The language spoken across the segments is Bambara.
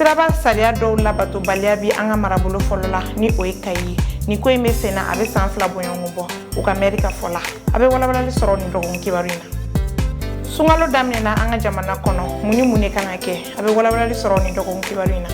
siraba sariya dɔw labatobaliya bi an ka marabolo fɔlɔ la ni o ye kayi ye nin ko in bɛ sen na a bɛ san fila boɲɔgɔn bɔ u ka mɛri ka fɔ la a bɛ walawalali sɔrɔ nin dɔgɔkun kibaru in na sunkalo daminɛna an ka jamana kɔnɔ mun ni mun de kan ka kɛ a bɛ walawalali sɔrɔ nin dɔgɔkun kibaru in na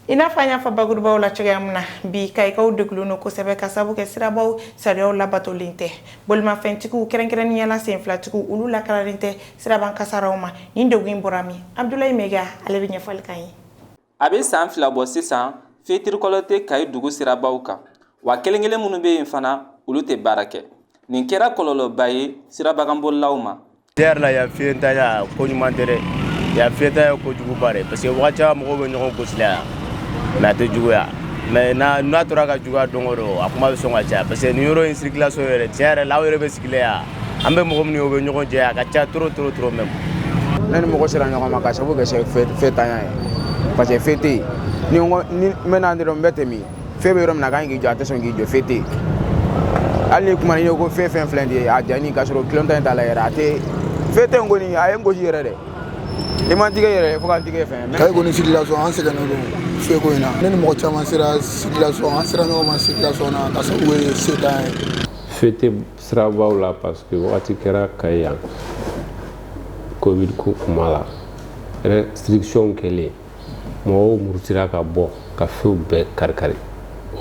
I n'a fɔ an y'a fɔ bakurubaw la cogoya min na bi kayikaw dɛgunnen don kosɛbɛ ka sababu kɛ sirabaw sariya labatolen tɛ bolimafɛntigiw kɛrɛnkɛrɛnnenya la sen filatigiw olu lakananen tɛ siraba kan kasaraw ma nin de in bɔra min Abdoulaye Maïga ale bɛ ɲɛfɔli k'an ye a bɛ san fila bɔ sisan feu tricolore tɛ kayi dugu sirabaw kan wa kelenkelen minnu bɛ yen fana olu tɛ baara kɛ nin kɛra kɔlɔlɔba ye sirabakanbolilaw ma Tiɲɛ yɛrɛ la yan feuntanya ko ɲuman tɛ dɛ yan feuntanya ko juguba de parce que waati caman mɔgɔw bɛ ɲɔgɔn gosi la yan mais a tɛ juguya mais n'a tora ka juguya don don a kuma bɛ sɔn ka caya parce que nin yɔrɔ in circulation yɛrɛ tiɲɛ yɛrɛ la aw yɛrɛ bɛ sigilen yan an bɛ mɔgɔ min ye u bɛ ɲɔgɔn cɛ a ka ca trop trop trop même ne ni mɔgɔ sera ɲɔgɔn ma ka sababu kɛ feuntanya ye parce que feu tɛ yen ni n bɛ na dɔrɔn n bɛ tɛmɛn feu bɛ yɔrɔ min na a kan k'i jɔ a tɛ sɔn k'i jɔ feu tɛ yen hali ni kuma ni ko fɛn fɛn filɛ nin ye a jani ka sɔrɔ clignotant t'a la yɛrɛ a tɛ feu tɛ n kɔni a ye n gosi yɛrɛ dɛ i man tigɛ yɛrɛ fo ka n tigɛ fɛn kayi kɔni circulation an sɛgɛnnen don feu ko in na ne ni mɔgɔ caman sera circulation an sera ɲɔgɔn ma circulation na ka sabu ye feuntanya ye feu tɛ sirabaw la parce que wagati kɛra kayi yan covid ko kuma la restriction kɛlen mɔgɔw murutira ka bɔ ka feuw bɛɛ karikari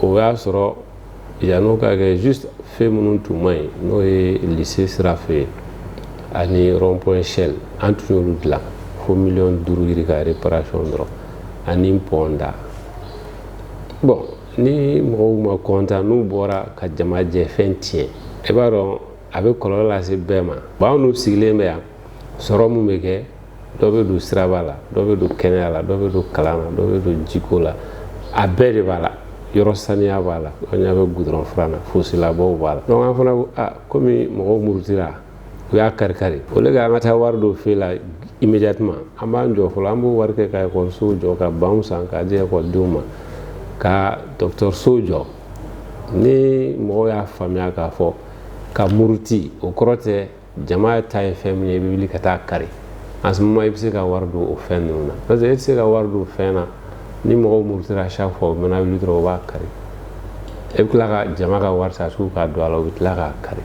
o y'a sɔrɔ yann'o ka kɛ juste feu minnu tun man ɲi n'o ye lycée sira fɛ yen ani rond point Shell an tun y'olu dilan fo miliyɔn duuru yirika réparation dɔrɔn ani pɔn da bon ni mɔgɔw ma kɔntan n'u bɔra ka jama jɛ fɛn tiɲɛ i b'a dɔn a bɛ kɔlɔlɔ lase bɛɛ ma bon anw ninnu sigilen bɛ yan sɔrɔ min bɛ kɛ dɔ bɛ don siraba la dɔ bɛ don kɛnɛya la dɔ bɛ don kalan na dɔ bɛ don jiko la a bɛɛ de b'a la yɔrɔ saniya b'a la aw ɲa bɛ gudɔrɔn furan na fossé labɔ b'a la donc an fana ko aa komi mɔgɔw murutira u y'a karikari au lieu k'an ka taa wari don feu la immédiatement an b'an jɔ fɔlɔ an b'o wari kɛ ka ekɔlisow jɔ ka banw san k'a di ekɔlidenw ma ka dɔgɔtɔrɔsow jɔ ni mɔgɔw y'a faamuya k'a fɔ ka muruti o kɔrɔ tɛ jama ta ye fɛn min ye i bɛ wuli ka taa a kari en ce moment i bɛ se ka wari don o fɛn ninnu na parce que e tɛ se ka wari don fɛn na ni mɔgɔw murutira chaque fois u mana wuli dɔrɔn u b'a kari e bɛ tila ka jama ka wari ta tugun k'a don a la u bɛ tila k'a kari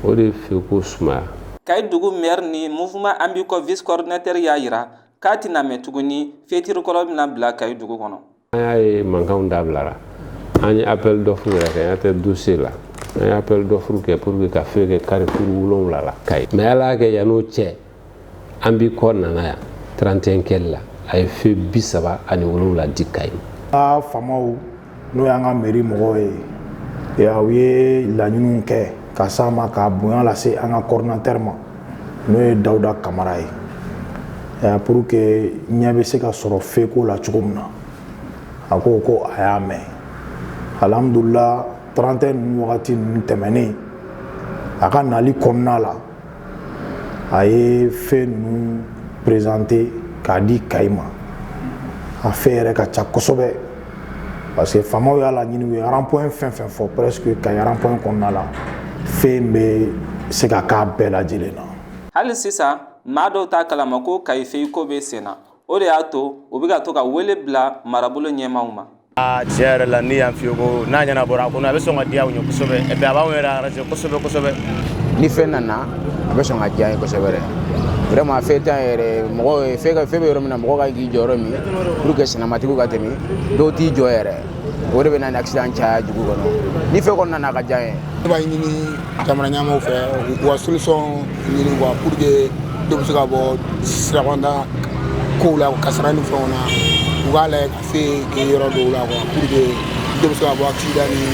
o de ye feu ko sumaya. kayi dugu maire ni mouvement an b'i kɔ vice coordinateur y'a jira k'a tɛna mɛn tuguni feu tricolore bɛna bila kayi dugu kɔnɔ. an y'a ye mankanw dabilara an ye appel d'offre yɛrɛ kɛ an tɛ dossier la an ye appel d'offre kɛ pour que ka feu kɛ carrefour wolonwula la kayi mais ala y'a kɛ yann'o cɛ an b'i kɔ nana yan 31 kɛli la a ye feu bi saba ani wolonwula di kayi a faamaw n'o y'an ka meri mɔgɔw ye u ye laɲiniw kɛ ka s'an ma ka bonya lase an ka coordinateur ma n'o ye dawuda kamara ye pour que ɲɛ bɛ se ka sɔrɔ feu ko la cogo min na a ko ko a y'a mɛn alihamudulila 31 ninnu wagati ninnu tɛmɛnen a ka nali kɔnɔna la a ye feu ninnu présenter k'a di kayi ma a feu yɛrɛ ka ca kosɛbɛ parce que faamaw y'a laɲini u ye rond-point fɛn fɛn fɔ presque Kayi rond-point kɔnɔna la feu in bɛ se ka k'a bɛɛ lajɛlen na. hali sisan maa dɔw t'a kalama ko Kayi feu ko bɛ sen na o de y'a to u bɛ ka to ka wele bila marabolo ɲɛmaaw ma. aa tiɲɛ yɛrɛ la ni yan feu ko n'a ɲɛnabɔra kɔni a bɛ sɔn ka diya u ye kosɛbɛ et puis a b'anw yɛrɛ arranger kosɛbɛ kosɛbɛ. ni feu nana a bɛ sɔn ka diya ye kosɛbɛ dɛ vraiment feu tɛ yan yɛrɛ mɔgɔ ye feu bɛ yɔrɔ min na mɔgɔ ka k'i jɔ yɔrɔ min pour que sennamatigiw ka tɛmɛ dɔw t'i jɔ yɛrɛ o de bɛ na ni accident caya dugu kɔnɔ ni feu kɔni nana ka diya ye ne b'a ɲini jamana ɲɛmaaw fɛ u ka solution ɲini quoi pour que dɔ bɛ se ka bɔ sirabanda kow la kasara ni fɛnw na u k'a lajɛ ka feu kɛ yɔrɔ dɔw la quoi pour que dɔ bɛ se ka bɔ accident ni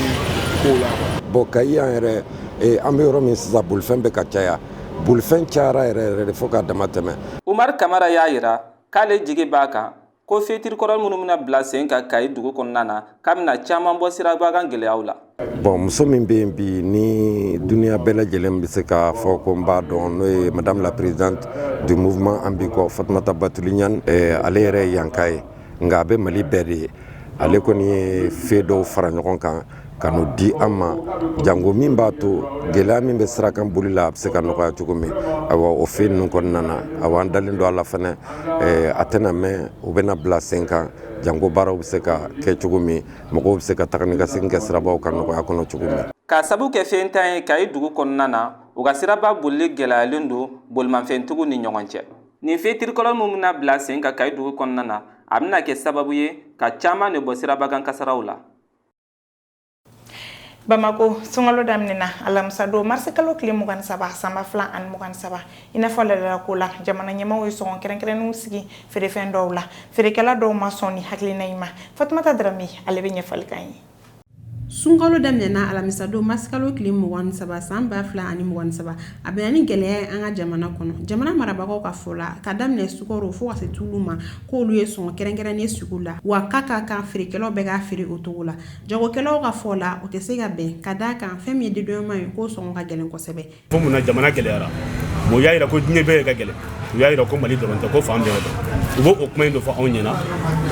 kow la quoi bon kayi yan yɛrɛ ee an bɛ yɔrɔ min sisan bolifɛn bɛ ka caya bolifɛn cayara yɛrɛ yɛrɛ de fo k'a dama tɛmɛ umar kamara y'a yira k'ale jigi b'a kan ko feu tricolore minnu bɛna bila sen kan kayi dugu kɔnɔna na k'a bɛna caman bɔ siraba kan gɛlɛyaw la bon muso min bɛ yen bi ni duniya bɛɛ lajɛlen bɛ se k'a fɔ ko n b'a dɔn n'o ye madame la présidente du mouvement an b'i kɔ fatumata batuli ɲani ale yɛrɛ ye yanka ye nka a bɛ mali bɛɛ de ye ale kɔni ye feu dɔw fara ɲɔgɔn kan ka n'u di an ma jango min b'a to gɛlɛya min bɛ sirakan boli la a bɛ se ka nɔgɔya cogo min ayiwa o feu ninnu kɔnɔna na awa an dalen don a la fɛnɛ a tɛna mɛn u bɛna bila sen kan jango baaraw bɛ se ka kɛ cogo min mɔgɔw bɛ se ka taga ni ka segin kɛ sirabaw kan nɔgɔya kɔnɔ cogo min k'a sabu kɛ feuntan ye kayi dugu kɔnɔna na u ka siraba boli gɛlɛyalen don bolimafɛntigiw ni ɲɔgɔn cɛ nin feu tricolore min bɛna bila sen kan kayi dugu kɔnɔna na a bɛna kɛ sababu ye ka caman de bɔ siraba kan kasaraw la Bamako sunkalo daminɛna alamisa don marisi kalo tile mugan ni saba san ba fila ani mugan ni saba i n'a fɔ laadala ko la jamana ɲɛmaaw ye sɔngɔ kɛrɛnkɛrɛnnenw sigi feerefɛn dɔw la feerekɛla dɔw ma sɔn ni hakilina in ma fatumata darame ale bɛ ɲɛfɔli k'an ye sunkalo daminɛna alamisadon marisikalo tile mugan ni saba san ba fila ani mugan ni saba a bɛnna ni gɛlɛya ye an ka jamana kɔnɔ jamana marabagaw ka fɔ la ka daminɛ sukaro fo ka se tulu ma k'olu ye sɔngɔ kɛrɛnkɛrɛnnen sugu la wa k'a ka kan feerekɛlaw bɛɛ k'a feere o cogo la jagokɛlaw ka fɔ la o tɛ se ka bɛn ka d'a kan fɛn min ye dédouanement ye k'o sɔngɔ ka gɛlɛn kosɛbɛ Fo mun na jamana gɛlɛyara bon u y'a jira ko diɲɛ bɛɛ ka gɛlɛn u y'a jira ko mali dɔrɔn tɛ ko fan bɛɛ don u b'o kuma in de fɔ anw ɲɛna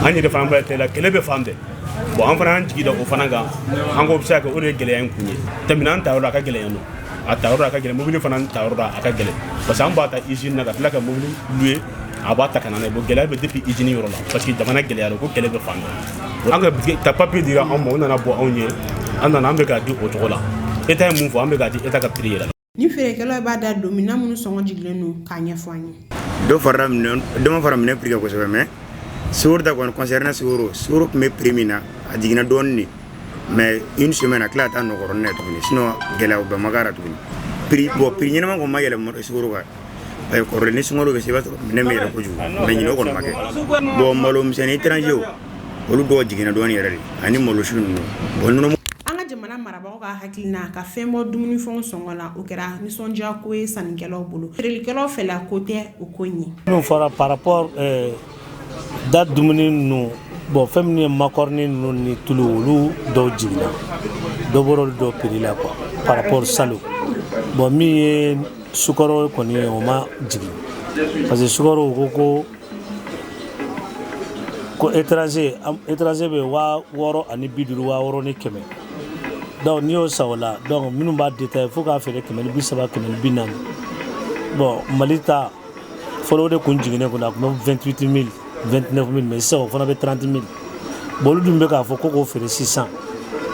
an yɛrɛ fana bɛ d'a la kɛlɛ bɛ fan bɛɛ bon an fana an jigi da o fana kan an ko a bɛ se ka kɛ o de ye gɛlɛya in kun ye tɛmɛna an tayɔrɔ a ka gɛlɛya don a tayɔrɔ a ka gɛlɛn mobili fana tayɔrɔ a ka gɛlɛn parce que an b'a ta usine na ka tila ka mobili louer a b'a ta ka na n'a ye bon gɛlɛya bɛ depuis usine yɔrɔ la parce que jamana gɛlɛyara ko kɛlɛ bɛ fan bɛɛ an ka ka papier dira anw ma o nana bɔ anw ye an nana an bɛ k'a di o cogo la état ye mun fɔ an bɛ k'a di état ka prix yɛrɛ la ni feerekɛlaw b'a da don minɛn minnu sɔngɔ jigilen don k'a ɲɛfɔ an ye dɔ farala minɛn dɔ ma fara minɛn prix kan kosɛbɛ mais sukoro ta kɔni concernant sukoro sukoro tun bɛ prix min na a jiginna dɔɔnin de mais une semaine a tila ka taa nɔ kɔrɔnin na tuguni sinon gɛlɛyaba ma k'a la tuguni prix bon prix ɲɛnama kɔni ma yɛlɛ sukoro kan parce que kɔrɔlen ni sunkalo bɛ se i b'a sɔrɔ minɛn bɛ yɛlɛ kojugu mais ɲinan o kɔni ma kɛ bon malomisɛnnin étranger olu dɔw jiginna dɔɔnin yɛrɛ de ani malowusu ninnu bon an ka jamana marabagaw ka hakilina ka fɛn bɔ dumuni fɛn sɔngɔ la o kɛra nisɔndiya ko ye sannikɛlaw bolo feerelikɛlaw fɛla ko tɛ o ko ɲɛ n'o fɔra par da dumuni ninnu bon fɛn minnu ye makɔrɔni ninnu ni tulu olu dɔw jiginna dɔ bɔra olu dɔw prix la quoi par rapport salon bon min ye sukaro kɔni ye o ma jigin parce que sukaro ko ko ko étranger am- étranger bɛ waa wɔɔrɔ ani bi duuru waa wɔɔrɔ ni kɛmɛ donc n'i y'o san o la donc minnu b'a détaillé fo k'a feere kɛmɛ ni bi saba kɛmɛ ni bi naani bon mali ta fɔlɔ o de kun jiginnen kun a tun bɛ 28 mil 29 mil mais sisan o fana bɛ 30 mil bon olu dun bɛ k'a fɔ ko k'o feere 600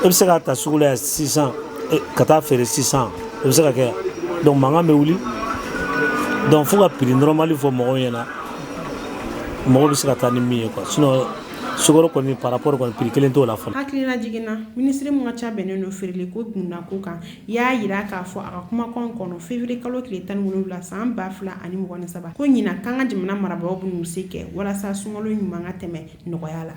e bɛ se k'a ta sugu la yan 600 e, ka taa feere 600 o bɛ se ka kɛ donc mankan bɛ wuli donc fo ka prix normal fɔ mɔgɔw ɲɛna mɔgɔ bɛ se ka taa ni min ye quoi sinon sukaro kɔni par rapport kɔni prix kelen t'o la fɔlɔ. hakililajigin na minisiri min ka ca bɛnnen don feereliko dundako kan y'a jira k'a fɔ a ka kumakan kɔnɔ février kalo tile tan wolonwula san ba fila ani mugan ni saba ko ɲinan kan ko jamana marabagaw bɛn'u se kɛ walasa sunkalo ɲuman ka tɛmɛ nɔgɔya la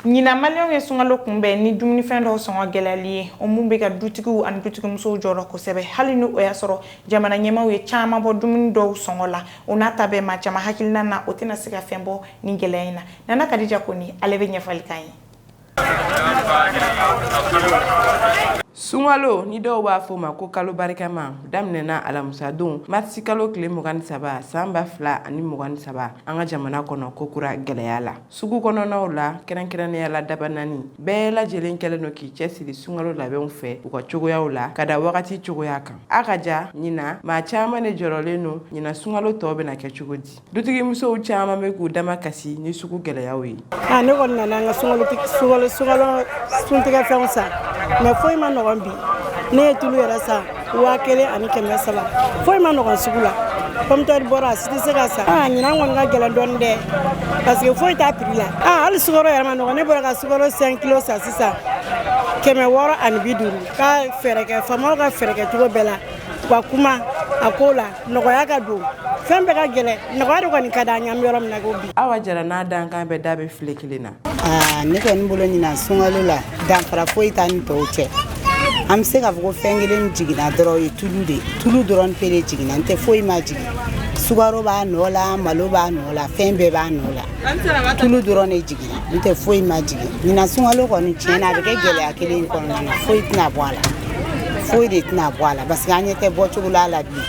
ɲinan maliyɛnw ye sunkalo kunbɛn ni dumunifɛn dɔw sɔngɔ gɛlɛyali ye o min bɛ ka dutigiw ani dutigimusow jɔrɔ kosɛbɛ hali ni o y'a sɔrɔ jamana ɲɛmaaw ye caman bɔ dumuni dɔw sɔngɔ la o n'a ta bɛɛ maa caman hakilina na o tɛna se ka fɛn bɔ nin gɛlɛya in na nana kadija kɔnɛ ale bɛ ɲɛfɔli kan ye sunkalo ni dɔw b'a fɔ ma ko kalo barikama daminɛna alamisadon marisi kalo tile mugan ni saba san ba fila ani mugan ni saba an ka jamana kɔnɔ kokura gɛlɛya la sugu kɔnɔnaw la kɛrɛnkɛrɛnnenya la dabanani bɛɛ lajɛlen kɛlen don k'i cɛsiri sunkalo labɛnw fɛ u ka cogoyaw la ka da wagati cogoya kan a ka ja ɲinan maa caman ne jɔrɔlen don ɲinan sunkalo tɔw bɛna kɛ cogo di Dutigimusow caman bɛ k'u damakasi ni sugu gɛlɛya ye ne kɔni nana an ka so suntigɛfɛnw san mais foyi ma nɔgɔn bi ne ye tulu yɛrɛ san waa kelen ani kɛmɛ saba foyi ma nɔgɔn sugu la kɔmitɛri bɔra a tɛ se ka san ɲinan kɔni ka gɛlɛn dɔɔni dɛ parce que foyi t'a prix la hali sukaro yɛrɛ ma nɔgɔ ne bɔra ka sukaro cinq kilos san sisan kɛmɛ wɔɔrɔ ani bi duuru ka fɛɛrɛ kɛ faamaw ka fɛɛrɛ kɛ cogo bɛɛ la ka kuma a ko la nɔgɔya ka don fɛn bɛɛ ka gɛlɛn nɔgɔya de kɔni ka di an ɲɛ an bɛ yɔrɔ min na ko bi awa jara n'a dankan bɛɛ da bɛ file kelen na ah, ne kɔni bolo ɲinan sunkalo la danfara foyi t'a ni tɔw cɛ an bɛ se k'a fɔ ko fɛn kelen jiginna dɔrɔn o ye tulu de ye tulu dɔrɔn pe de jiginna n tɛ foyi ma jigin sukaro b'a nɔ la malo b'a nɔ la fɛn bɛɛ b'a nɔ la tulu dɔrɔn de jigin N tɛ foyi ma jigin ɲinan sunkalo kɔni tiɲɛ na a bɛ kɛ gɛlɛya kelen kɔnɔna foyi tɛna bɔ a la foyi de tɛna bɔ a la parce que an ɲɛ tɛ bɔcogo la la bi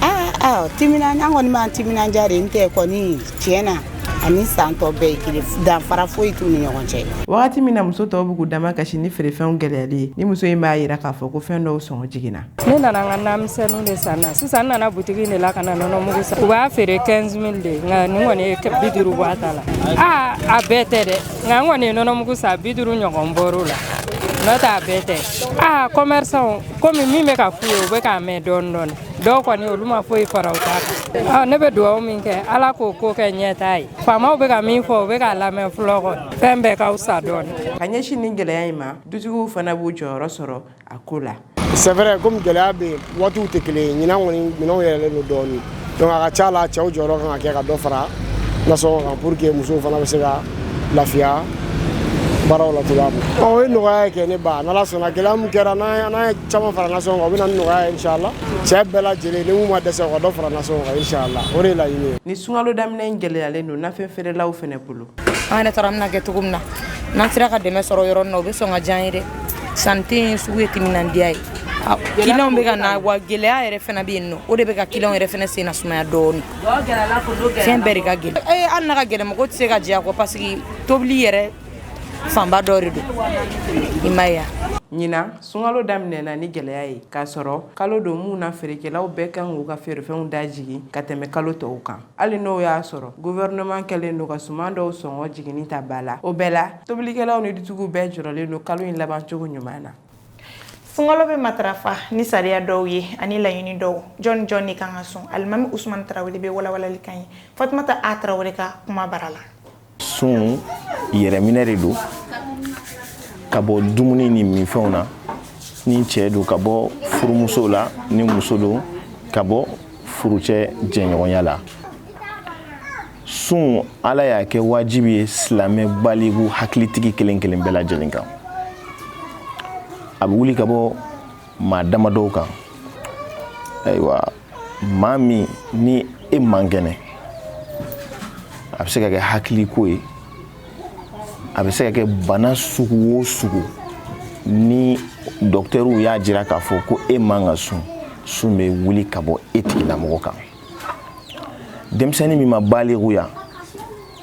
aaa ti an kɔni b'an timinandiya de n tɛ kɔni tiɲɛ na ani san tɔ bɛɛ kelen danfara foyi t'u ni ɲɔgɔn cɛ waati min na muso tɔw bɛ k'u damakasi ni feerefɛnw gɛlɛyali ye nin muso in b'a jira k'a fɔ ko fɛn dɔw sɔngɔ jiginna Ne nana n ka namisɛnninw de san na sisan n nana butigi de la ka na nɔnɔmugu san u b'a feere quinze mille de nka nin kɔni ye bi duuru bɔ a ta la aa a bɛɛ tɛ dɛ nka n kɔni ye nɔnɔmugu san bi duuru ɲɔgɔn bɔr'o la n'o tɛ a bɛɛ tɛ aa commerçants kɔmi min bɛ ka f'u ye u bɛ k'a mɛn dɔɔnin dɔɔnin dɔw kɔni olu ma foyi fara u ta kan ne bɛ dugawu min kɛ ala k'o ko kɛ ɲɛtaa ye faamaw bɛ ka min fɔ u bɛ k'a lamɛn fɛn bɛɛ ka fisa dɔɔnin ka ɲɛsin nin gɛlɛya in ma dutigiw fana b'u jɔyɔrɔ sɔrɔ a ko la c'est vrai comme gɛlɛya bɛ yen waatiw tɛ kelen ye ɲinan kɔni minɛnw yɛlɛlen don dɔɔnin donc a ka ca la cɛw jɔyɔrɔ kan ka kɛ ka dɔ fara nasɔngɔ kan pour que musow fana bɛ se ka lafiya baaraw la cogoya min na o ye nɔgɔya ye kɛ ne ba n'ala sɔnna gɛlɛya min kɛra n'an ye caman fara nasɔngɔ kan o bɛ na ni nɔgɔya ye inshallah cɛ bɛɛ lajɛlen ni mun ma dɛsɛ o ka dɔ fara nasɔngɔ kan inshallah o de ye laɲini ye ni sunkalo daminɛ in gɛlɛyalen don nafɛn feerelaw fana bolo an yɛrɛ taara an bɛna kɛ cogo min na n'an sera ka dɛmɛ sɔrɔ yɔrɔ min na o bɛ sɔn ka diya an ye dɛ sanni tɛ yen sugu ye timinandiya ye kiliyanw bɛ ka na wa gɛlɛya yɛrɛ fana bɛ yen nɔ o de bɛ ka kiliyanw yɛrɛ fana sen na sumaya dɔɔni fɛn bɛɛ de ka gɛlɛn ee hali n'a ka gɛlɛn mɔgɔ tɛ se ka jɛ a kɔ parce que tobili yɛrɛ fanba dɔ de don i ma ye ɲinan sunkalo daminɛna ni gɛlɛya ye k'a sɔrɔ kalo don mun na feerekɛlaw bɛɛ kan k'u ka feerefɛnw da jigin ka tɛmɛ kalo tɔw kan hali n'o y'a sɔrɔ gouvernement kɛlen don ka suman dɔw sɔngɔ jiginni ta ba la o bɛɛ la tobilikɛlaw ni dutigiw bɛɛ jɔrɔlen don kalo in laban cogo ɲuman na sunkalo bɛ matarafa ni sariya dɔw ye ani laɲini dɔw jɔni jɔni de kan ka sun alimami usumani tarawele bɛ walawalali k'an ye fatumata a tarawele ka kuma bara la sun yɛrɛminɛ de don ka bɔ dumuni ni minfɛnw na ni cɛ don ka bɔ furumuso la ni muso don ka bɔ furucɛ jɛɲɔgɔnya la sun ala y'a kɛ wajibi ye silamɛ baligu hakilitigi kelen kelen bɛɛ lajɛlen kan a bɛ wuli ka bɔ maa damadɔw kan ayiwa maa min ni e man kɛnɛ a bɛ se ka kɛ hakiliko ye a bɛ se ka kɛ bana sugu o sugu ni dɔkitɛriw y'a jira k'a fɔ ko e man ka sun sun bɛ wuli ka bɔ e tigilamɔgɔ kan denmisɛnnin min ma balikuya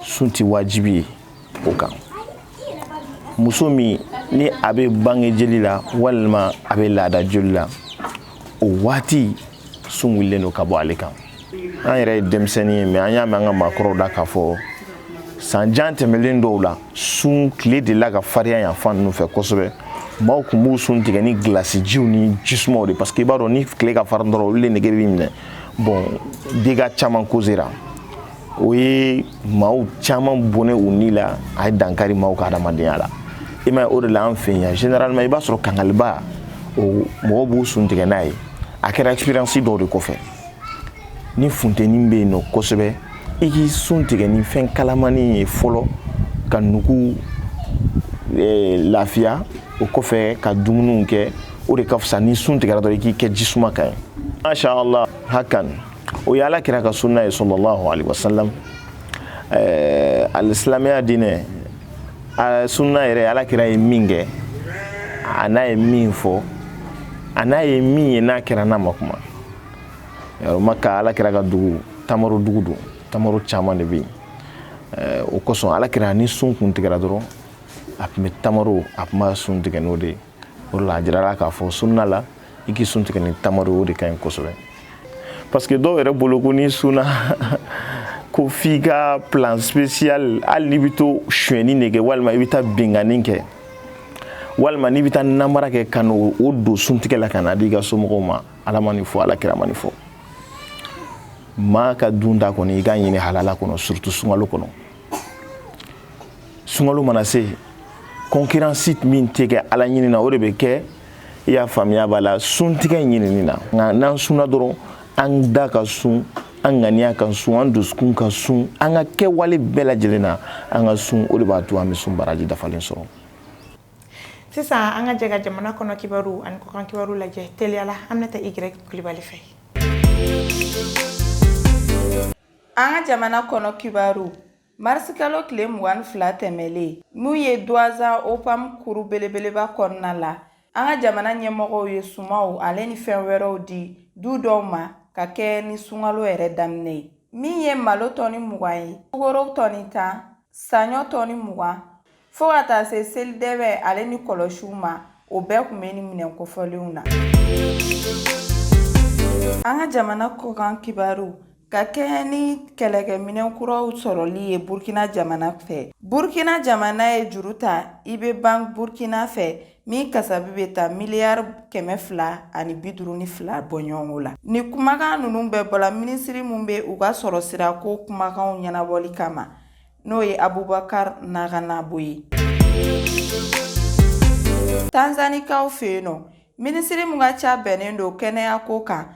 sun tɛ wajibi ye o kan muso min ni a bɛ bange jeli la walima a bɛ laada joli la o waati sun wulilen don ka bɔ ale kan an yɛrɛ ye denmisɛnnin ye mais an y'a mɛn an ka maakɔrɔw da k'a fɔ san jan tɛmɛlen dɔw la sun tile delila ka farinya yan fan ninnu fɛ kosɛbɛ maaw tun b'u sun tigɛ ni gilasi jiw ni jisumaw de parce que i b'a dɔn ni tile ka farin dɔrɔn olu de nege b'i minɛ bon dégâts caman causera o ye maaw caman bɔnɛ u ni la a ye dankari maaw ka hadamadenya la i m'a ye o de la an fɛ yan généralement i b'a sɔrɔ kangaliba o mɔgɔw b'u sun tigɛ n'a ye a kɛra expérience dɔw de kɔfɛ ni funteni bɛ yen nɔ kosɛbɛ i k'i sun tigɛ ni fɛn kalamani ye fɔlɔ ka nugu eh, lafiya o kɔfɛ ka dumuniw kɛ o de ka fisa ni sun tigɛra dɔrɔn i k'i kɛ jisuma kan ye masha allah hakan o ye ala kira ka sunna ye sallallahu alaihi wasallam ɛɛ alisilamɛya diinɛ sunna yɛrɛ ala kira ye min kɛ a n'a ye min fɔ a n'a ye min ye n'a kɛra n'a ma kuma yɔrɔ maka ala kira ka dugu tamaro dugu don tamaro caman de bɛ yen eh, o kosɔn ala kira ni sun kun tigɛra dɔrɔn a tun bɛ tamaro a tun b'a sun tigɛ n'o de ye o de la a jirala k'a fɔ sunna la i k'i sun tigɛ ni tamaro o de ka ɲi kosɛbɛ parce que dɔw yɛrɛ bolo ko n'i sunna ko f'i ka plat spécial hali n'i bɛ taa sonyɛni de kɛ walima i bɛ taa binkanni kɛ walima n'i bɛ taa namara kɛ ka n'o don suntigɛ la ka n'a di i ka somɔgɔw ma ala ma nin fɔ ala kira ma nin fɔ maa ka dunta kɔni i k'a ɲini halala kɔnɔ surtout sunkalo kɔnɔ sunkalo mana se concurrence min tɛ kɛ ala ɲini na o de bɛ kɛ i y'a faamuya b'a la suntigɛ ɲinini na nka n'an sunna dɔrɔn an da ka sun an ŋaniya ka sun an dusukun ka sun an ka kɛwale bɛɛ lajɛlen na an ka sun o de b'a to an bɛ sun baraji dafalen sɔrɔ sisan an ka jɛ ka jamana kɔnɔ kibaru ani kɔkan kibaru lajɛ teliyala aminata y kulibali fɛ An ka jamana kɔnɔ kibaru marisikalo tile mugan ni fila tɛmɛlen min ye duwazsa opam kuru belebeleba kɔnɔna la an ka jamana ɲɛmɔgɔw ye sumanw ale ni fɛn wɛrɛw di du dɔw ma ka kɛ ni sunkalo yɛrɛ daminɛ ye min ye malo tɔni mugan ye sukaro tɔni tan Saɲɔ tɔni mugan fo ka taa se selidɛbɛ ale ni kɔlɔsiw ma o bɛɛ kun bɛ ni minɛn kofɔlenw na an ka jamana kɔkan kibaru ka kɛɲɛ ni kɛlɛkɛminɛn kuraw sɔrɔli ye burkina jamana fɛ burkina jamana ye juru ta ib bank burkina fɛ min kasabi bɛ taa miliyari kɛmɛ fila ani bi duuru ni fila bɔ ɲɔgɔn la ni kumakan ninnu bɛɛ bɔla minisiri mun bɛ u ka sɔrɔ sira ko kumakanw ɲɛnabɔli kama n'o ye abubakar naganabo ye tanzanikaw fɛ yen nɔ minisiri mun ka ca bɛnnen don kɛnɛya ko kan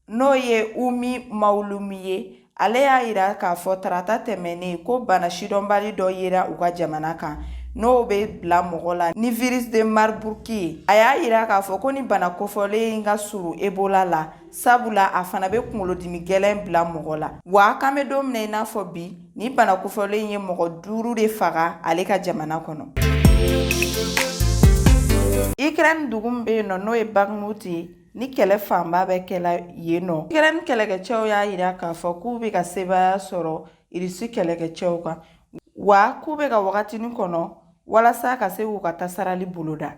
n'o ye umi mawulumi ye ale y'a yira k'a fɔ tarata tɛmɛnnen ko bana sidɔnbali dɔ yera u ka jamana kan n'o bɛ bila mɔgɔ la ni virus de marburg ye a y'a yira k'a fɔ ko ni bana kofɔlen in ka surun ebola la sabula a fana bɛ kunkolodimi gɛlɛn bila mɔgɔ la wa k'an bɛ don min na i n'a fɔ bi ni bana kofɔlen ye mɔgɔ duuru de faga ale ka jamana kɔnɔ ukraine dugu min bɛ yen nɔ n'o ye bakhmut ye ni kɛlɛ fanba bɛ kɛla yen nɔ ukraine kɛlɛkɛcɛw y'a yira k'a fɔ k'u bɛ ka sebaaya sɔrɔ irisi kɛlɛkɛcɛw kan wa k'u bɛ ka wagatinin kɔnɔ walasa ka se k'u ka tasarali boloda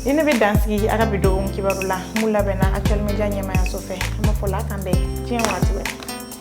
ni ne bɛ dansigi a ka bi dɔgɔkun kibaru la mun labɛnna actuel media ɲɛmaayaso fɛ an b'a fɔ ala k'an bɛn diɲɛ waati wɛrɛ